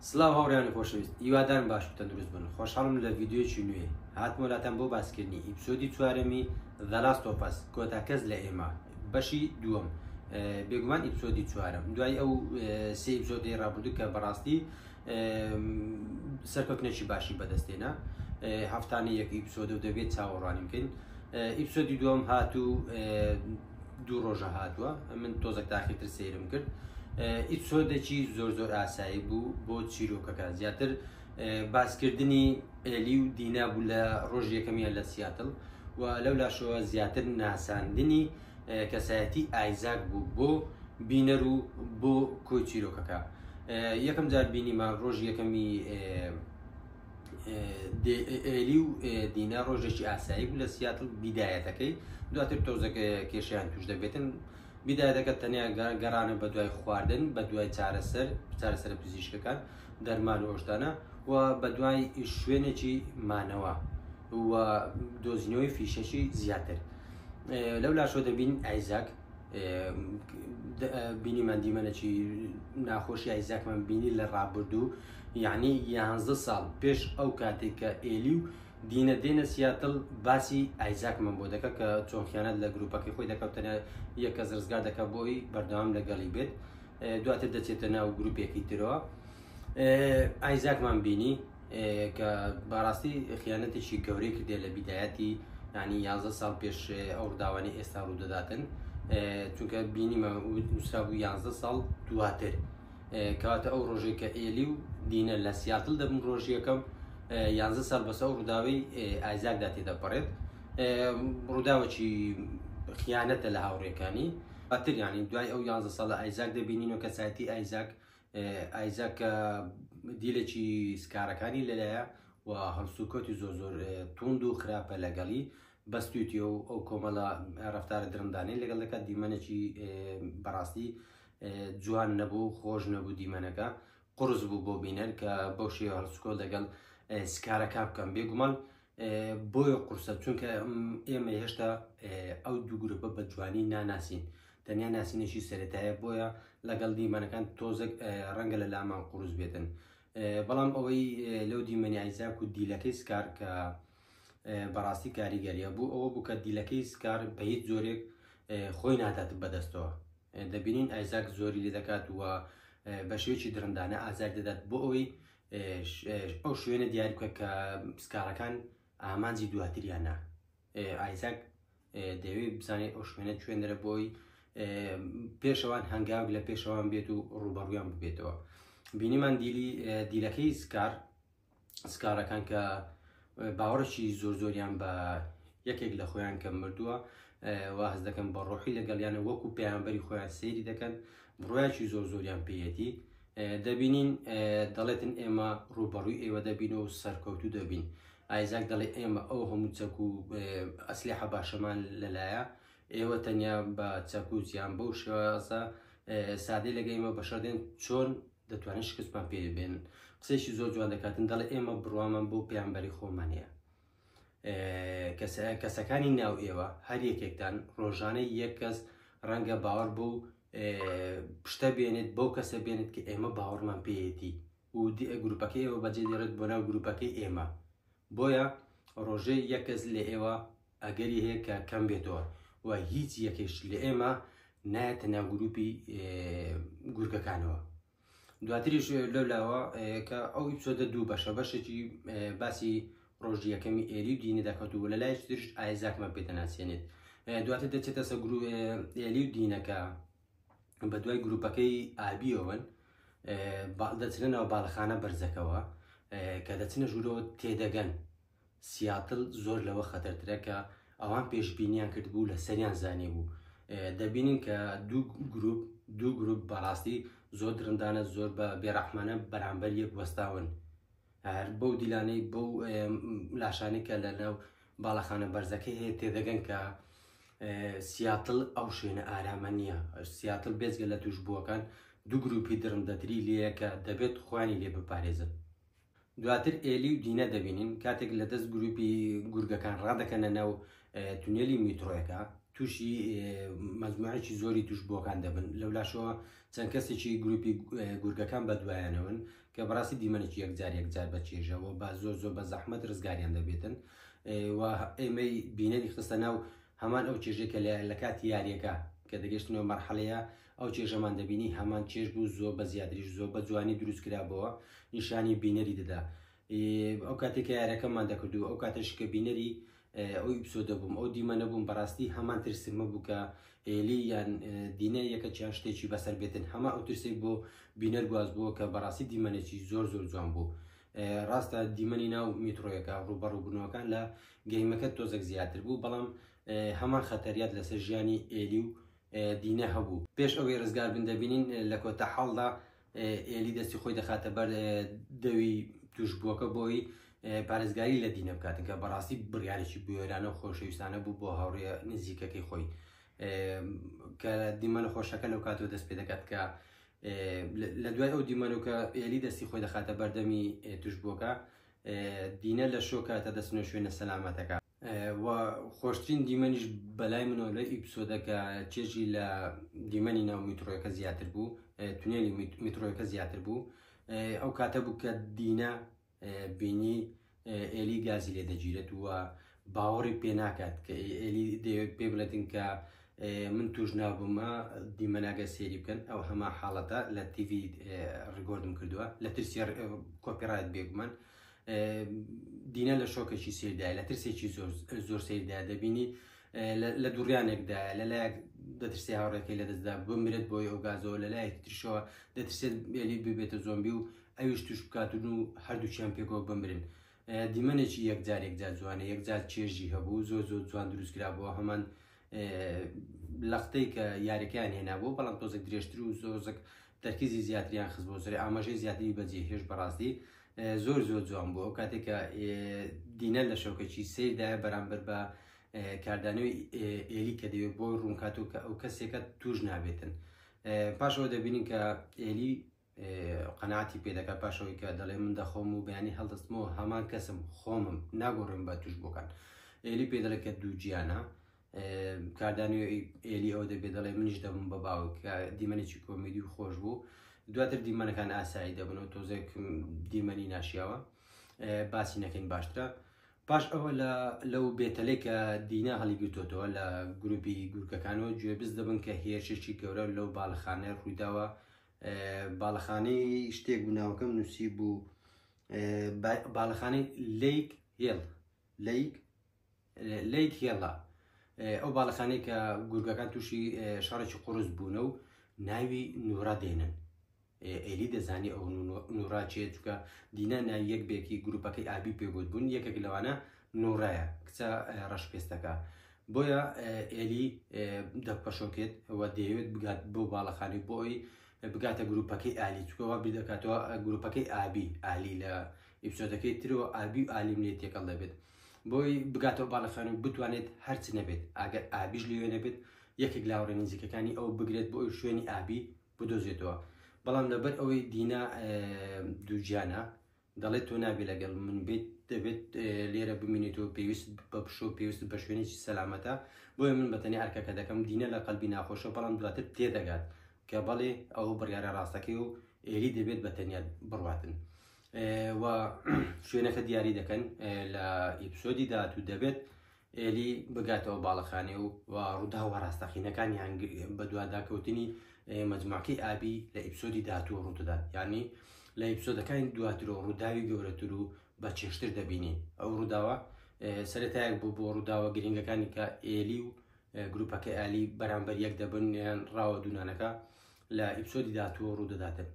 سلااو هاوڕیانی خۆشەویست هیوادارم باش تەندروست بن خۆشحاڵم لە ڤیددیوچی نوێ هاتمۆلاتان بۆ باسکردنی ئیپسۆدی چوارەمی دەلاست تۆپەس کۆتا کەس لە ئێمە بەشی دووەم بێگومان ئیپسۆدی چوارم دوای ئەو سێ ئیپسۆدی ڕابردوو کە بەڕاستی سەرکەوتنێکی باشی بەدەستێنە هەفتانە یەک ئیپسۆدە و دەبێت چاوەڕوانیم بکەین ئیپسۆدی دووەم هات و دوو ڕۆژە هاتووە من تۆزەک تاقی تر سەیرم کرد ئیسۆدەکی زۆر زۆر ئاسایی بوو بۆ چیرۆکەکە زیاتر باسکردنی ئێلی و دینا بوو لە ڕۆژ یەکەمیان لە سیاتل و لەو لاشەوە زیاتر ناساندنی کەسایەتی ئایزاک بوو بۆ بینەر و بۆ کۆی چیرۆکەکە یەکەم جار بینیمان ڕۆژ یەکەمی ئێلی و دینا ڕۆژێکی ئاسایی بوو لە سیاتل بیدایەتەکەی دواتر تۆزەکە کێشیان توش دەبێتن بیدایەتەکە تەنیا گەڕانە بە دوای خواردن بە دوای چارەسەر چارەسەر پزیشکەکان دەرمان و ئۆشتانە و بە دوای شوێنێکی مانەوە و دۆزینەوەی فیشەکی زیاتر لەو لاشۆ دەبین ئایزاک بینیمان دیمەنەکی ناخۆشی ئایزاکمان بینی لە ڕابردوو یەعنی یانزە ساڵ پێش ئەو کاتەی کە ئێلی و دینە دێنە سیاتڵ باسی ئایزاکمان بۆ دەکە کە چۆن خیانەت لە گروپەکەی خۆی دەکەوت تەنیا یە کەس ڕزگار دەکە بۆی بەردەوام لەگەڵی بێت دواتر دەچێتە ناو گروپێکی ترەوە ئایزاکمان بینی کە بەڕاستی خیانەتێکی گەورەی کردێ لە بیدایەتی ینی یازە ساڵ پێش ئەو ڕداوانی ئێستا ڕوودەداتن چونکە بینیمە نووسرا بوو یازە ساڵ دواتر کەواتە ئەو ڕۆژەی کە ئێلی و دینە لە سیاتل دەبن ڕۆژ یەکەم یانزە ساڵ بەسە ئەو ڕووداوەی ئایزاکدا تێدەپەڕێت ڕووداوەکی خیانەتە لە هاوڕێکانی بەتر ینی دوای ئەو یانزە ساڵ لە ئایزاک دەبینینەوە کەسایەتی ئایزاک ئایزاک دیلێکی سکارەکانی لەلایە و هەڵسوکەوتی زۆر زۆر توند و خراپە لەگەڵی بەستویتەوە ئەو کۆمەڵە ڕفتارە درندانەی لەگەڵ دەکات دیمەنێکی بەڕاستی جوان نەبوو خۆش نەبوو دیمەنەکە قرس بوو بۆ بینەر کە بۆ شێوە هەڵسکۆ دەگەڵ سکارەکە بکەم بێگومان بۆیە قورسە چونکە ئێمە هێشتا ئەو دوو گرروپە بە جوانی ناناسین تەنیا ناسینێکی سەتایە بۆیە لەگەڵ دیمەنەکان تۆزێک ڕەنگە لە لامان قورس بێتن بەڵام ئەوەی لەو دیمەنیایزاک و دیلەکەی سکار کە بەڕاستی کاریگەریە بوو ئەوە بوو کە دیلەکەی سکار بە هیچ جۆرێک خۆی نادات بەدەستەوە دەبینین ئایزاک زۆری لێ دەکات و بە شێوێکی درندانە ئازار دەدات بۆ ئەوەی ئەو شوێنە دیار بکە کە سکارەکان ئامانجی دواتریانە ئایزاک دەوێ بزانێت ئەو شوێنە شوێنەرە بۆی پێشەوان هەنگاو لە پێشەوان بێت و ڕوبەڕویان ببێتەوە بینیمان دیلی دیلەکەی سکار سکاڵەکان کە باوەڕێکی زۆر زۆریان بە یەکێک لە خۆیان کە مردووە واز دەکەن بە ڕۆحی لەگەڵیانە وەکو پێیانبەری خۆیان سەیری دەکەن بڕایکی زۆر زۆریان پێەتی دەبینین دەڵێتن ئێمە ڕوبەڕووی ئێوە دەبین و سەرکەوتو دەبین ئایزاک دەڵێ ئێمە ئەو هەموو چەک و ئەسلی حەباشەمان لەلایە ئێوە تەنیا بە چەکوزیان بەو شێوازە سادەی لەگەیمە بەشەدێن چۆن دەتوانن شکستمان پێ بێنن قسەیشی زۆر جوان دەکاتن دەڵێ ئێمە بڕوامان بۆ پێیانبەری خۆمان هەیە کەسەکانی ناو ئێوە هەر یەکێکتان ڕۆژانەی یەک کەس ڕەنگە باوەڕ بۆ پشتە بێنێت بۆ کەسە بێنێت کە ئێمە باوەڕمان پێیەتی و گروپەکەی ئێوە بەجێ دێڕێت بۆ ناو گروپەکەی ئێمە بۆیە ڕۆژەی یەکەس لە ئێوە ئەگەری هەیە کە کەم بێتەوە و هیچ یەکێکش لە ئێمە نایەتە ناو گروپی گورگەکانەوە دواتریش لەو لاوە کە ئەو ئیپسۆدە دوو بەشە بەشێکی باسی ڕۆژی یەکەمی ئێلی و دینە دەکەوت و لە لای ترش ئایزاکمان پێ دەناسیێنێت دواتر دەچێتە سە گرو ئێلی و دینەکە بە دوای گروپەکەی ئابیەوەن دەچنە ناو باڵخانە بەرزەکەەوە کە دەچنە ژوورەوە تێدەگەن سیاتل زۆر لەوە خەتەرترە کە ئەوان پێشبینیان کردبوو لە سەریان زانیبوو دەبینین کە دوو گروپ دوو گروپ بەڕاستی زۆر درندانە زۆر بە بێڕەحمانە بەرامبەر یەک وەستاون هەر بەو دیلانەی بەو لاشانی کە لە ناو باڵەخانە بەرزەکەی هەیە تێدەگەن کە سیاتل ئەو شوێنە ئارامە نییە سیاتل بێزگە لە توش بووەکان دوو گروپی درندەتری لەیەکە دەبێت خۆیانی لێ بپارێزن دواتر ئێلی و دینە دەبینین کاتێک لە دەست گروپی گورگەکان ڕادەکەنە ناو تونێلی میترۆیەکە تووشی مەزموعێکی زۆری توش بۆکان دەبن لەولاشەوە چەند کەسێکی گروپی گورگەکان بە دوایانەوەن کە بەڕاستی دیمەنێکی یەکجار یەکجار بە چێژەوە بە زۆر زۆر بە زەحمەت ڕزگاریان دەبێتن و ئێمەی بینەری خستە ناو هەمان ئەو چێژێکە لە لە کاتی یاریەکە کە دەگەشتنەوە مەرحەلەیە ئەو چێژەمان دەبینی هەمان چێژ بوو زۆر بە زیاتریش زۆر بە جوانی دروست کرابەوە نیشانی بینەری دەدا ئەو کاتێک کە یارەکەمان دەکردو ئەو کاتەش کە بینەری ئەو ئیپسۆ دەبووم ئەو دیمە نەبووم بەڕاستی هەمان ترسمە بوو کە ئێلی یان دینە یەکە چیان شتێکی بەسەر بێتن هەما ئەو ترسێک بۆ بینەر گواز بووە کە بەڕاستی دیمەنێکی زۆر زۆر جوان بوو. ڕاستە دیمەنی ناو میترۆیەکە ڕوبەڕووبوونەوەکان لە گەیمەکە تۆزەک زیاتر بوو بەڵام هەمان خەتەریات لەسەر ژیانی ئێلی و دینە هەبوو پێش ئەوەی ڕزگار بن دەبینین لە کۆتا حاڵدا ئێلی دەستی خۆی دەخاتە بەر دەوی توشبووەکە بۆی پارێزگاری لە دینە بکاتن کە بەڕاستی بڕارێکی بوێرانە و خۆشەویستانە بوو بۆ هاوڕێ نزیکەکەی خۆی کە دیمەنە خۆشەکە لەو کاتەوە دەست پێ دەکات کە لە دوای ئەو دیمەنۆکە ئێلی دەستی خۆی دەخاتە بەردەمی توشبووەکە دینە لە شۆکاتە دەستنە شوێنە سەلامەتەکە وە خۆشترین دیمەنیش بەلای منەوە لە ئیپسۆدەکە چێژی لە دیمەنی ناو میترۆەکە زیاتر بوو تونێلی میترۆەکە زیاتر بوو ئەو کاتە بوو کە دینا بینی ئێلی گازی لێ دەگیرێت وە باوەڕی پێ ناکات کە ئێلی پێ بڵێتن کە من توش نابوومە دیمەناگە سێری بکەن ئەو هەما حاڵەتە لە تیڤ ڕگۆردم کردووە لە ترسی کۆپیڕایت بێگومان دینە لە شۆکێکی سیردای لە ترسێکی زۆر سیردا دەبینی لە دوڕیانێکدا لە لایەک دەترسێ هاوڕێکەکەی لە دەستدا بمرێت بۆی ئەو گازەوە لە لایەکی ترشەوە دەترسێت بێلی ببێتە زۆمبی و ئەویش توش بکاتون و هەردووچیان پێکەوە بمرن. دیمەنێکی یەکجارێکجا جوانە یەکجار چێژی هەبوو زۆر زۆر جوان دروستکرا بۆ هەمان لەقتەی کە یاریەکەیان هێنابوو بەڵام تۆزێک درێژتر و زۆزک تەرکیزی زیاتریان خز بۆ سەر ئاماژەی زیاتری بەجێ هێش بەڕاستی زۆر زۆر جوان بوو ئەو کاتێکە دینە لە شەوکەچی سیردایە بەرامبەر بە کاردانەوەی ئێلی کە دەوێت بۆ ڕوونکاتۆ کە ئەو کەسێکە توش نابێتن پاشەوە دەبینین کە ئێلی قەناتی پێ دەکات پاشەوەی کە دەڵێ من دەخۆم و بەیانی هەڵدەستمەوە هەمان کەسم خۆمم ناگۆڕم بە توش بۆکان ئێلی پێ دەڵێ کە دوو گیانە کاردانی ئێلی ئەو دەبێ دەڵێ منیش دەبم بە باوک دیمەنێکی کۆمیدی و خۆش بوو دواتر دیمەنەکان ئاسایی دەبن و تۆزێک دیمەنی ناشیاوە باسی نەکەین باشترە پاش ئەوە لە لەو بێتەلێک کە دینا هەڵیگرتوتەوە لە گروپی گورکەکانەوە گوێبز دەبن کە هێرشێکی گەورە لەو باڵخانە ڕووداوە باڵەخانەی شتێک بوو ناوەکەم نووسی بوو باڵەخانەی لیک هێڵ لیک لیک هێڵە ئەو باڵەخانەی کە گورگەکان تووشی شارێکی قرس بوونە و ناوی نورا دێنن ئێلی دەزانی ئەو نوراچێت چکە دینا ناوی یەک بێکی گروپەکەی ئابی پێبوت بوون یەکێک لەوانە لورایە کچە ڕەش پێستەکە بۆیە ئێلی دەک پەشۆکێت و دەیەوێت بگات بۆ باڵەخانی بۆی بگاتە گروپەکەی ئالی چکەوە بیدەکاتەوە گروپەکەی ئابی ئالی لە ئیپسۆدەکەی ترەوە ئابی و ئالیم لێ تێکەڵ دەبێت بۆی بگاتەوە باڵەخانی و بتوانێت هەرچ نەبێت ئەگەر ئابیش لێوێ نەبێت یەکێک لاوڕێ نزیکەکانی ئەو بگرێت بۆ ئەوی شوێنی ئابی بدۆزێتەوە بەڵام لەبەر ئەوەی دینا دووجیانە دەڵێت تۆ نابێ لەگەڵ من بێت دەبێت لێرە بمینیت و پێویست بە پشۆ پێویست بە شوێنێکی سەلامەتە بۆیە من بەتەنی ئەرکەکە دەکەم دینە لە قەلبی ناخۆشە بەڵام دواتر تێدەگات کە بەڵێ ئەو بڕیارە ڕاستەکەی و ئێری دەبێت بە تەنیا بڕاتن و شوێنەکە دیاری دەکەن لە ئیپسۆدی داات و دەبێت ئێلی بگاتەوە باڵەخانێ و ڕووداوە ڕاستەقینەکانی هەنگ بەدواداکەوتنی مەجموعەکەی ئابی لە ئیپسۆدی داهاتوو ڕوودەدات یانی لە ئیپسۆدەکانی دواتر و ڕووداوی گەورەتر و بە چێشتر دەبینین ئەو ڕووداوە سەرەتایەک بوو بۆ ڕووداوە گرنگەکانی کە ئێلی و گروپەکە ئالی بەرامبەر یەک دەبن یان ڕاوە دوونانەکە لە ئیپسۆدی داهاتووەوە ڕوودەداتن.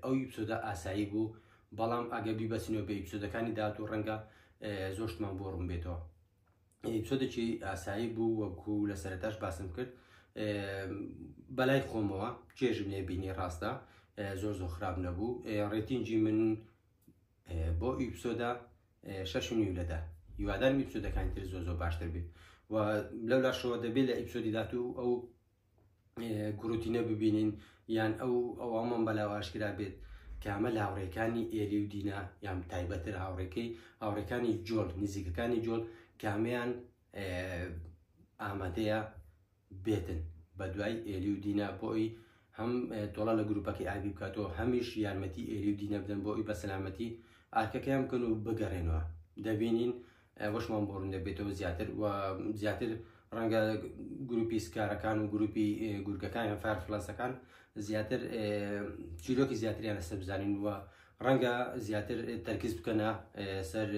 ئەو ئیپسۆدە ئاسایی بوو، بەڵام ئەگەر بیبەستینەوە بە ئیپسۆدەکانی داهاتوو ڕەنگە زۆر شتمان بۆ ڕوون بێتەوە. ئیپسۆدێکی ئاسایی بوو وەکو لە سەرەتاش باسم کرد بەلای خۆمەوە چێژم لێ بینی ڕاستە زۆر زۆر خراپ نەبوو ڕێتینجی من بۆ ئیپسۆدا شەش و نیو لەدا هیوادارم ئیپسۆدەکانی تر زۆر زۆر باشتر بێت و لەو لاشەوە دەبێت لە ئیپسۆدی داهاتوو ئەو گروتینە ببینین یان ئەو ئەوەمان بەلاواشکرا بێت کامە لە هاوڕێکانی ئێلی و دینا یان تایبەتر هاوڕێکەی هاوڕێکانی جۆل نزیکەکانی جۆل کامیان ئامادەیە بێتن بە دوای ئێلی و دینا بۆی هەم تۆڵە لە گروپەکەی ئابی بکاتەوە هەمیش یارمەتی ئێلی و دینە بدەن بۆی بە سەلامەتی ئارکەکەیان بکەن و بگەڕێنەوە دەبینین وەشمان بۆ ڕوون دەبێتەوە زیاتر و زیاتر ڕەنگە گروپی سکارەکان و گروپی گورگەکان یان فارفلاسەکان زیاتر چیرۆکی زیاتریان لەسەر بزانین و ڕەنگە زیاتر تەرکز بکەنە سەر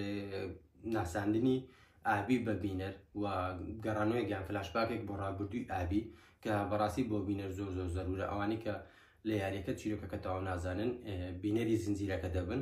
ناساندنی ئابی بە بینەر و گەڕانەوەی گیان فلاشباکێک بۆ ڕابردووی ئابی کە بەڕاستی بۆ بینەر زۆر زۆر زەرورە ئەوانی کە لە یاریەکە چیرۆکەکە تاوا نازانن بینەری زنجیرەکە دەبن